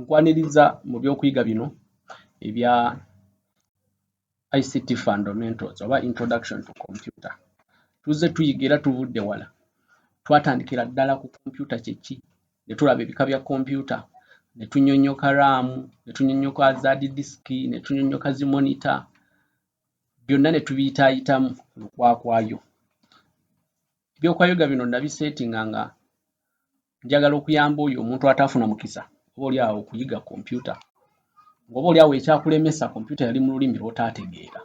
Nkwaniriza mu by'okuyiga bino ebya ICT fundamentals oba introduction to computer. Tuzze tuyiga era tuvudde wala. Twatandikira ddala ku kompyuta kye ki, ne tulaba ebika bya kompyuta, ne tunyonnyoka raamu, ne tunyonnyoka zaadi disiki, ne tunyonnyoka zi monita, byonna ne tubiyitaayitamu ku lukwakwayo. Eby'okuyiga bino nabiseetinga nga njagala okuyamba oyo omuntu ataafuna mukisa oba oli awo okuyiga kompyuta ngaoba oli awo ekyakulemesa kompyuta yali mu lulimi lwotaategeera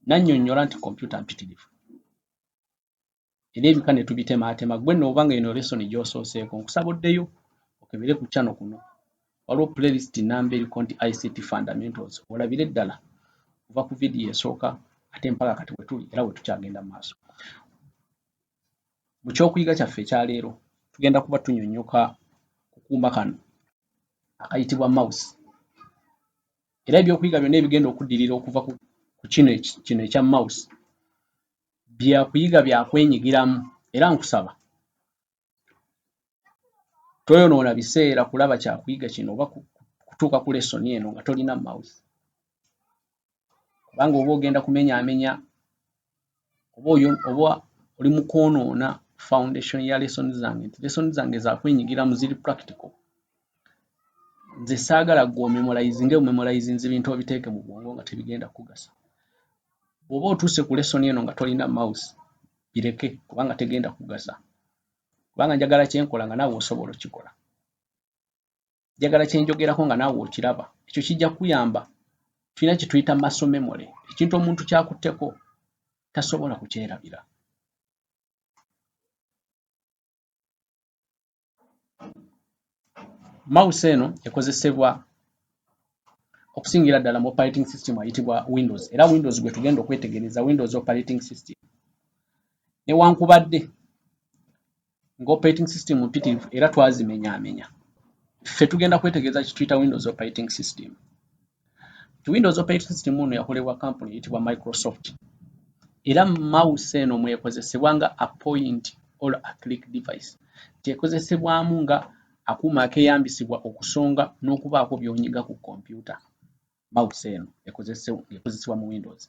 nannyonnyola nti kompyuta mpitirivu era ebika ne tubitemaatema gwe nooba nga eno lesoni gyosooseeko nkusaba oddeyo okebere ku kyano kuno waliwo playlist namba eriko nti ict fundamentals olabire ddala kuva ku vidiyo esooka ate mpaka kati wetuli era wetukyagenda maaso Mu ky'okuyiga kyaffe ekya leero, tugenda kuba tunyonnyoka ku kuuma kano akayitibwa mouse. Era eby'okuyiga byonna ebigenda okuddirira okuva ku kino kino ekya mouse bya kuyiga bya kwenyigiramu era nkusaba toyonoona biseera kulaba kyakuyiga kino oba kutuuka ku lesson eno nga tolina mouth kubanga oba ogenda kumenyaamenya oba oyo oba oli mu kwonoona foundation ya lesson zange nti lesson zange zakwenyigira mu ziri practical nze saagala gwe omemolayizinge omemolayizinze ebintu obiteeke mu bwongo nga tebigenda kugasa bw'oba otuuse ku lesson eno nga tolina mouth bireke kubanga tegenda kugasa kubanga njagala kyenkola nga naawe osobola okikola njagala kyenjogerako nga naawe okiraba ekyo kijja kuyamba tulina kyetuyita maso memory ekintu omuntu kyakutteko tasobola kukyerabira Mouse eno ekozesebwa okusingira ddala mu operating system ayitibwa Windows era Windows gwe tugenda okwetegereza Windows operating system. Newankubadde nga operating system mpitirivu era twazimenyaamenya, ffe tugenda kwetegereza kituyita Windows operating system. Ti Windows operating system ono yakolebwa kampuni eyitibwa Microsoft era mouse eno mwekozesebwa nga a point or a click device kyekozesebwamu nga akuuma akeyambisibwa okusonga n'okubaako by'onyiga ku kompyuta. Mouse eno ekozesebwa mu Windows.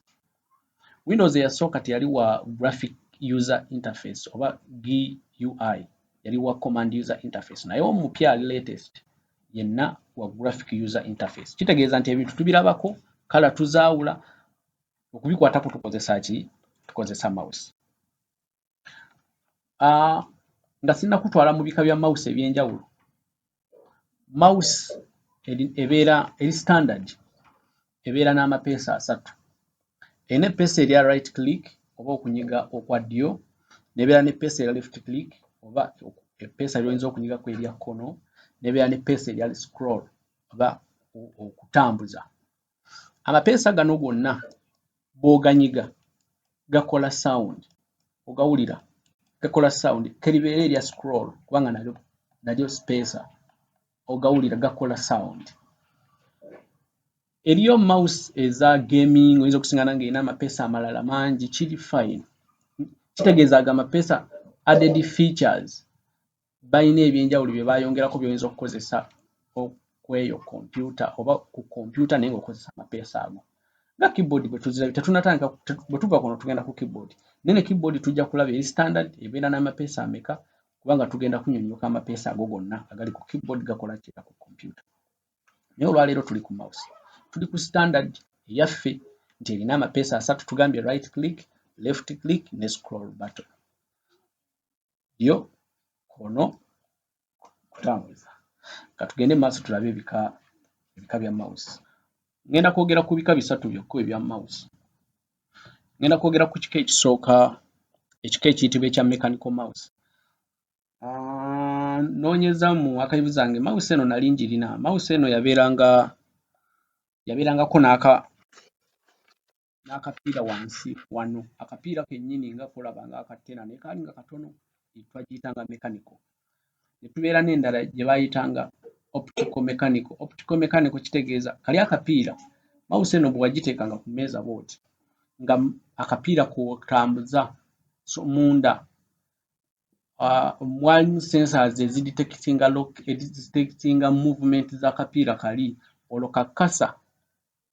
Windows eyasooka teyali wa graphic user interface oba GUI, yali wa command user interface naye omupya ali latest yenna wa graphic user interface. Kitegeeza nti ebintu tubirabako, kala tuzaawula, okubikwatako tukozesa ki? Tukozesa mouse. ah, nga sinna kutwala mu bika bya mouse ebyenjawulo mouse ebeera eri standard ebeera n'amapeesa asatu erina epeesa erya right click oba okunyiga okwa ddyo nebeera ne peesa erya left click oba epeesa lyoyinza okunyiga ku erya kkono nebeera ne peesa erya scroll oba okutambuza amapeesa gano gonna bwoganyiga gakola sound ogawulira gakola sound keribeera erya scroll kubanga nalyo nalyo sipeesa ogawulira gakola sound eriyo mouse eza gaming oyinza okusingana nga erina amapeesa amalala mangi kiri fine kitegeeza ago amapeesa added features balina ebyenjawulo bye bayongerako byoyinza okukozesa kweyo kompyuta oba ku kompyuta naye ng'okozesa amapeesa ago nga keyboard bwe tuzirabye tetunatandika bwe tuva kuno tugenda ku keyboard naye ne keyboard tujja kulaba eri standard ebeera n'amapeesa ameka kubanga tugenda kunyonyoka amapeesa ago gonna agali ku keyboard gakola kiera ku kompyuta naye olwaleero tuli ku mouse tuli ku standard eyaffe nti erina amapeesa asatu tugambye right click left click ne scroll button ddyo kkono kutambuza ka tugende mu maaso tulabe ebika ebika bya mouse ngenda kwogera ku bika bisatu byokka ebya mouse ngenda kwogera ku kika ekisooka ekika ekiyitibwa ekya mechanical mouse ah, noonyeza mu akayivu zange mouse eno nali njirina mouse eno yabeeranga yabeerangako n'aka n'akapiira wansi wano akapiira kennyini nga kolaba nga akattena naye kaali nga katono twagiyita nga mechanical ne tubeera n'endala gye baayita nga optical mechanical optical mechanical kitegeeza kali akapiira mawusi eno bwe wagiteeka nga ku mmeeza booti nga akapiira kotambuza so munda mwalimu uh, sensors ezidetectinga lock edetectinga movement z'akapiira kali olwo kakasa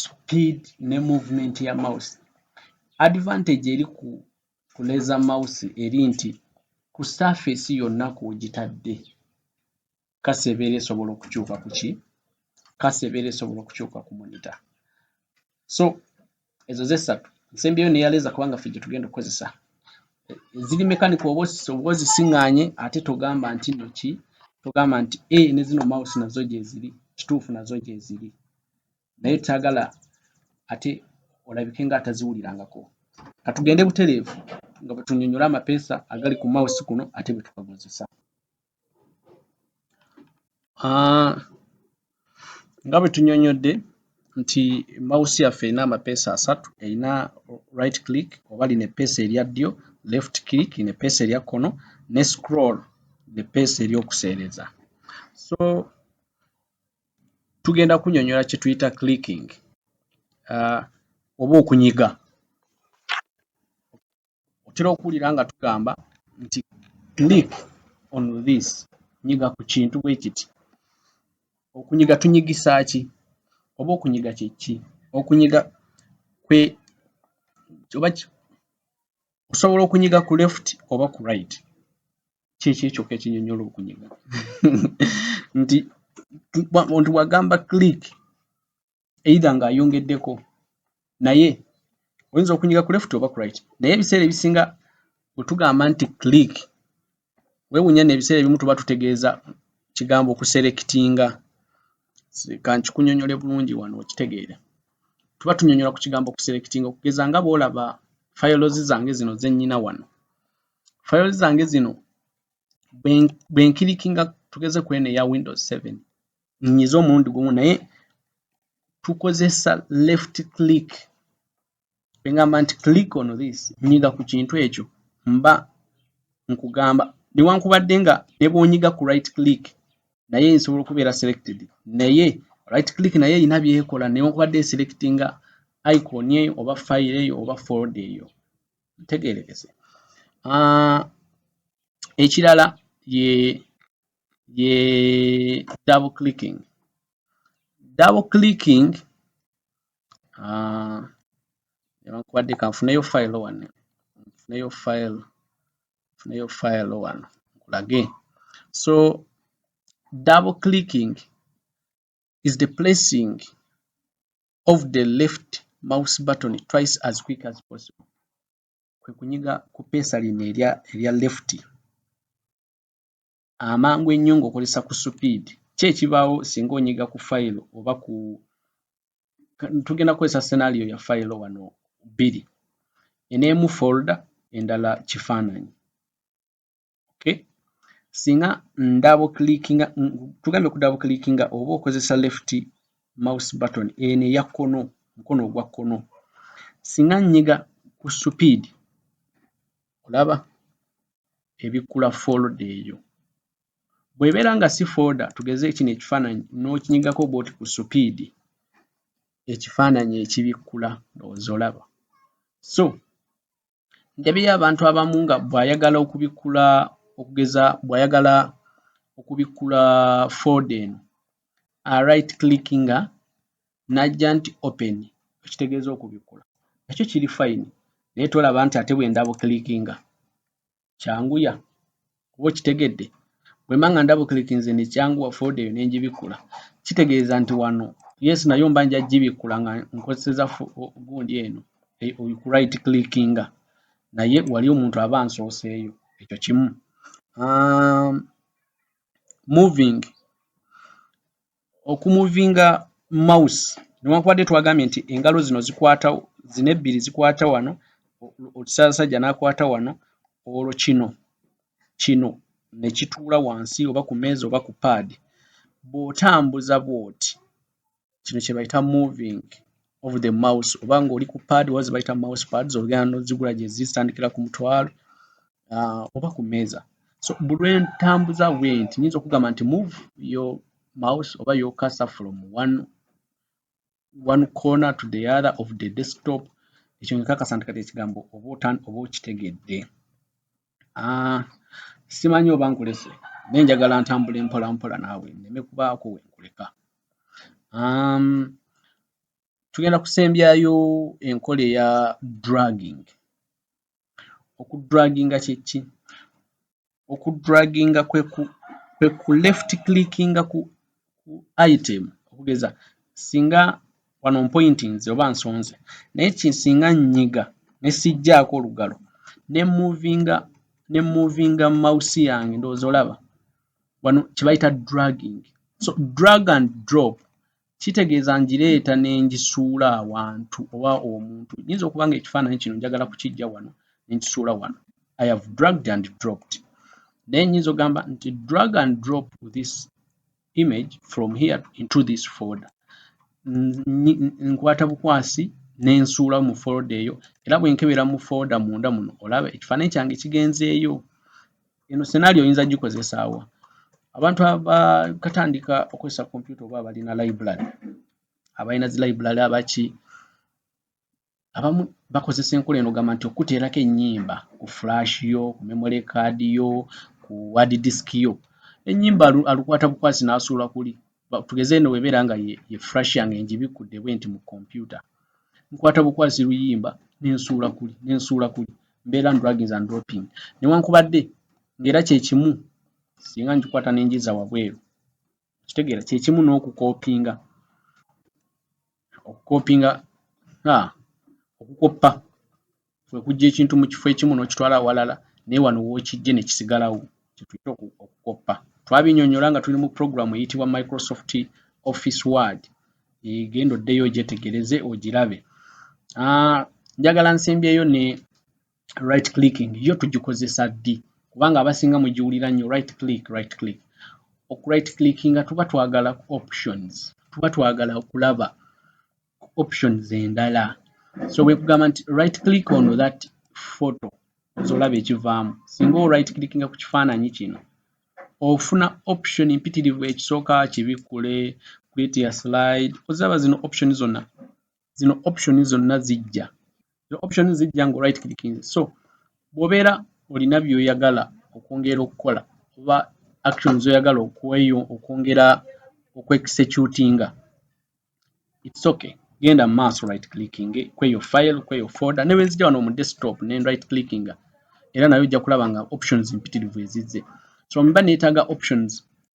speed ne movement ya mouse advantage eri ku kuleza mouse eri nti ku surface yonna kwogitadde kasa ebeera esobola okukyuka kuki kasa ebeera esobola okukyuka ku monitor so ezo ze satu nsembyeyo ne yaleza kubanga ffe gye tugenda okukozesa ziri mekanika oba ozisiŋŋanye ate togamba nti no ki togamba nti a ne zino mawusi nazo gyeziri kituufu nazo gyeziri naye kyagala ate olabike nga ataziwulirangako katugende butereevu nga bwe tunyonyola amapeesa agali ku mawusi kuno ate bwe tukakozesa Ah, nga bwe tunyonyodde nti mawusi yaffe erina amapeesa asatu erina right click oba lino epeesa erya ddyo left click lino epeesa erya kkono ne scroll nepeesa eryokuseereza so tugenda kunyonyola kye tuyita clicking uh, oba okunyiga otera okuwulira nga tugamba nti click on this nyiga ku kintu bwe kiti okunyiga tunyigisa ki oba okunyiga kyeki okunyiga kwe oba osobola okunyiga ku left oba ku right kyekyo ekyoka ekinyonyola okunyiga nti nti wagamba click either nga ayongeddeko naye oyinza okunyiga ku left oba ku right naye ebiseera ebisinga wetugamba nti click wewunya nebiseera ebimu tuba tutegeeza kigambo okuserekitinga kankikunyonyole bulungi wano okitegeere tuba tunyonyola ku kigambo okuserekitinga okugeza nga bwolaba files zange zino zenyina wano files zange zino bwenkirikinga tugeze kwene eya windows 7 nyiza omulundi gumu naye tukozesa left click engamba nti click on this nyiga ku kintu ekyo mba nkugamba newankubadde nga nebwonyiga ku right click naye nsobola okubeera selected naye right click naye erina byekola newankubadde eselectinga icon eyo oba file eyo oba fold eyo ntegerekese ah, ekirala ye ye double clicking double clicking uh, nebankubadde kanfuneyo file wano nfuneyo file nfuneyo file wano nkulage so double clicking is the placing of the left mouse button twice as quick as possible kwe kunyiga ku peesa lino erya left amangu ennyo ng'okozesa ku supiidi. Ki ekibaawo singa onyiga ku fayiro oba ku tugenda kukozesa senario ya fayiro wano bbiri eno emu folda endala kifaananyi okay. singa ndabo clickinga tugambye okudabo clickinga oba okozesa left mouse button eno eya kkono mukono ogwa kkono singa nyiga ku supiidi Olaba? Ebikkula folda eyo. Bw'ebeera nga si folda, tugeze kino ekifaananyi, n'okinyigako bw'oti ku supiidi, ekifaananyi ekibikkula, ndowooza olaba. So, ndabyeyo abantu abamu nga bw'ayagala okubikkula, okugeza bw'ayagala okubikkula folda eno, a right clickinga najja nti open ekitegeeza okubikkula nakyo kiri fine naye tolaba nti ate bwe ndabu clickinga kyanguya kuba okitegedde bwe mba nga ndabu clickinze ne kyanguwa fooda eyo ne ngibikkula kitegeeza nti wano yes nayo mba nja gibikkula nga nkozeseza gundi eno eh, ku right clickinga naye wali omuntu aba ansooseeyo ekyo kimu um, moving okumuvinga mouse newankubadde twagambye nti engalo zino zikwata zino ebbiri zikwata wano okisaasajja n'akwata wano olwo kino kino ne kituula wansi oba ku meeza oba ku paadi bw'otambuza bw'oti kino kye bayita moving of the mouse oba ng'oli ku pad oba zebayita mouse pads ogenda nozigula gye zitandikira ku mutwalo uh, oba ku meeza so buli lwentambuza wenti nyinza okugamba nti move yo mouse oba yo cursor from one, one corner to the other of the desktop ekyo nkakasa nti kati ekigambo oba okitegedde ah, simanyi oba nkulese naye njagala ntambula empola mpola naawe neme kubaako wenkuleka um, tugenda kusembyayo enkola eya dragging okudraginga kyeki okudraginga kwe ku left clickinga ku ku item okugeza singa wano mpointinze oba nsonze naye kisinga nnyiga ne sijjaako olugalo ne muvinga ne muvinga mawusi yange ndowooza olaba wano kye bayita dragging so drug and drop kitegeeza ngireeta ne ngisuula awantu oba omuntu nyinza okuba nga ekifaananyi kino njagala kukijja wano ne nkisuula wano I have dragged and dropped naye nyinza ogamba nti drag and drop this image from here into this folder nkwata bukwasi nensuula mu folder eyo era bwenkebera mu folder munda muno olaba ekifaananyi kyange kigenzeeyo eno senario oyinza gikozesaawa abantu abakatandika okozesa kompyuta oba abalina library abalina zi library abaki abamu bakozesa enkola eno gamba nti okuteerako ennyimba ku flash yo ku memory card yo ku ward disk yo ennyimba alukwata bukwasi n'asuula kuli tugeze eno webeera nga ye flash yange ngibikkudde bwe nti mu kompyuta nkwata bukwasi luyimba nensuula kuli nensuula kuli mbeera ndragins and dropping newankubadde ng'era kyekimu singa ngikwata nenjiza wabweru kitegeera kyekimu n'okukopinga okukopinga ha okukoppa kwe kujja ekintu mu kifo ekimu n'okitwala awalala naye wano w'okijje ne kisigalawo kye tuyita okukoppa twabinyonyola nga tuli mu pulogulaamu eyitibwa microsoft office word egenda oddeyo ogyetegereze ogirabe ah, njagala nsembyeyo ne right clicking yo tugikozesa ddi kubanga abasinga mugiwulira nnyo right click right click oku right clicking nga tuba twagala ku options tuba twagala okulaba ku options endala so bwekugamba nti right click ono that photo zolaba ekivaamu singa o right clickinga ku kifaananyi kino ofuna option mpitirivu ekisooka kibikkule create ya slide ozaba zino option zonna zino option zonna zijja zino option zijja nga right clicking so bwobeera olina byoyagala okwongera okukola oba actions oyagala okweyo okwongera okwexecutinga it's okay genda maaso right clicking kweyo file kweyo folder nebwezija wano mu desktop ne right clicking era nayo ojja kulaba nga options mpitirivu ezizze so mba netaga options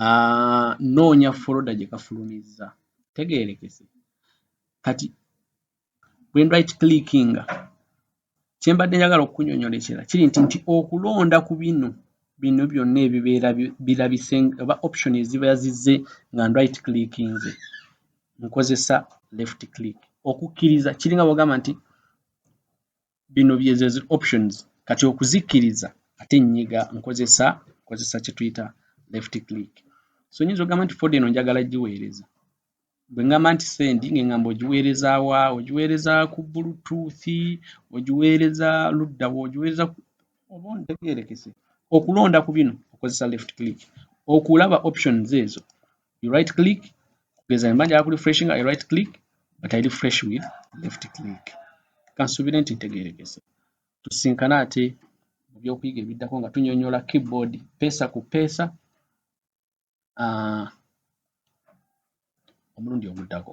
Ah, noonya foloda gye kafulumizza tegeerekese kati bwendrit clickinga kyembadde njagala okukunyonyola ekirala kiri nti nti okulonda ku bino bino byonna ebibeera birabise oba option eziba yazizze nga ndrit clickinze nkozesa left click okukkiriza kiringa bwogamba nti bino byezezi options kati okuzikkiriza ate nnyiga nkozesa nkozesa kye tuyita left click so nyinza ogamba nti foda eno njagala giweereza bwe ŋŋamba nti sendi nge ŋŋamba ogiweereza wa ogiweereza ku bluetooth ogiweereza ludda wa ogiweereza oba ontegeerekese okulonda ku bino okozesa left click okulaba options ezo you right click kugeza mba njagala ku refreshing i right click but i refresh with left click kansubire nti ntegerekese tusinkana ate mu byokuyiga ebiddako nga tunyonyola keyboard pesa ku pesa uh, omulundi oguddako